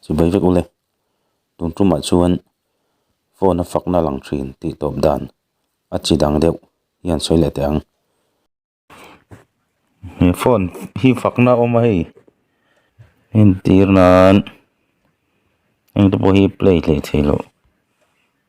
Chu bai vek u le. Tun tumah chuan phone a fakna a lang thin tih tawp dan a chi dang deuh hian sawi leh teh ang. He phone hi fakna a awm a hei. Entir nan engte pawh hi play hleh thei loh.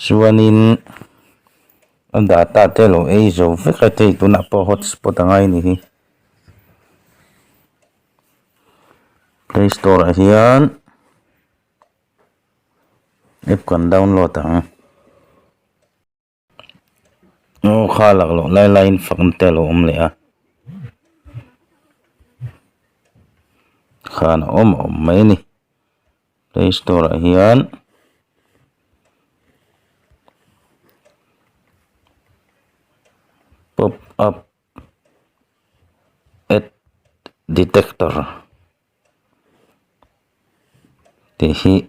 Chuanin a data te a lo ei zo vek a, hei tunah pawh hotspot anga i nih hi. Play store ah hian app kan download ang. Aw kha lak loh lai laiin fakna te a lo awm leh a, khan a awm a awm mai a ni. Play store ah hian pop up add detector tih hi--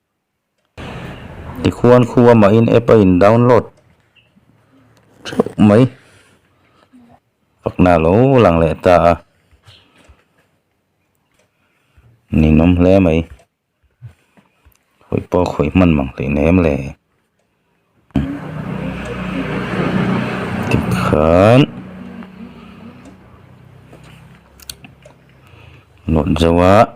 Tikhuan khuaa mahin app a in download theuh mai. Pakna lo lang leh ta a. Ninawm hle mai. Khawih pawh khawih hman mang hlih nem le. Tikhan lawt zauhah.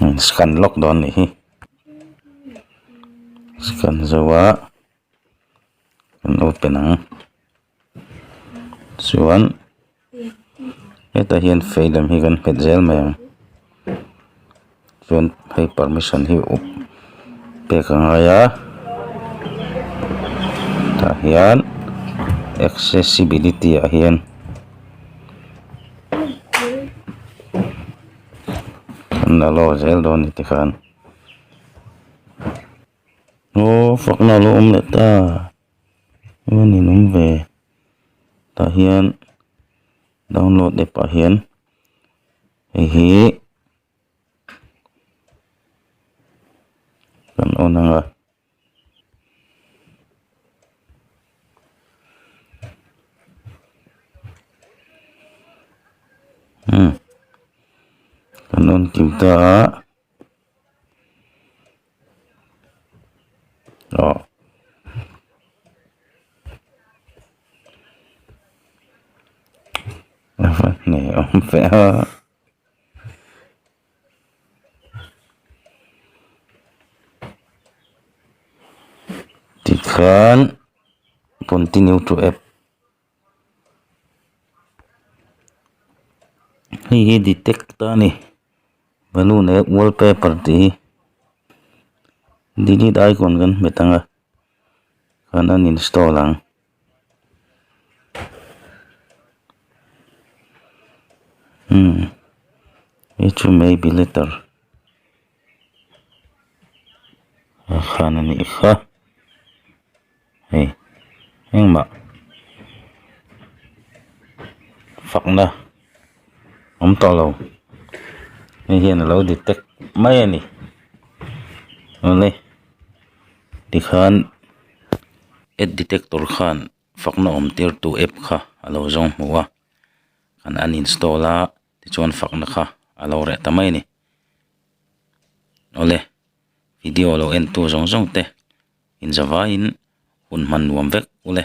imm scan lawk dawn a nih hi scan zo a kan open ang chuan hetah hian fei lem hi kan nghet zel mai ang. chuan hei permission hi a pek a ngai a tah hian accessibility ah hian an allow zel dawn a ni tih khan aw fakna a lo awm leh ta eng a ni nung ve tah hian download app ah hian hei hi-- kan on ang a umm kan on kim ta a aw a va hnih awm feh a. Tikhan continue to app hei hi detect a ni balloon leh wallpaper tih hi delete icon kan hmet ang a kan uninstall ang. umm hi chu may be letter a han a nih kha hei engmah fakna. awm tawh lo hei hian a lo detect mai a ni aww le tikhan ad detector khan fakna awm tir tu app kha a lo zawng hmu a an uninstall a tichuan fakna kha a lo reh ta mai a ni awle video lo en tu zawng zawng te inzavaiin hun hman nuam vek u le.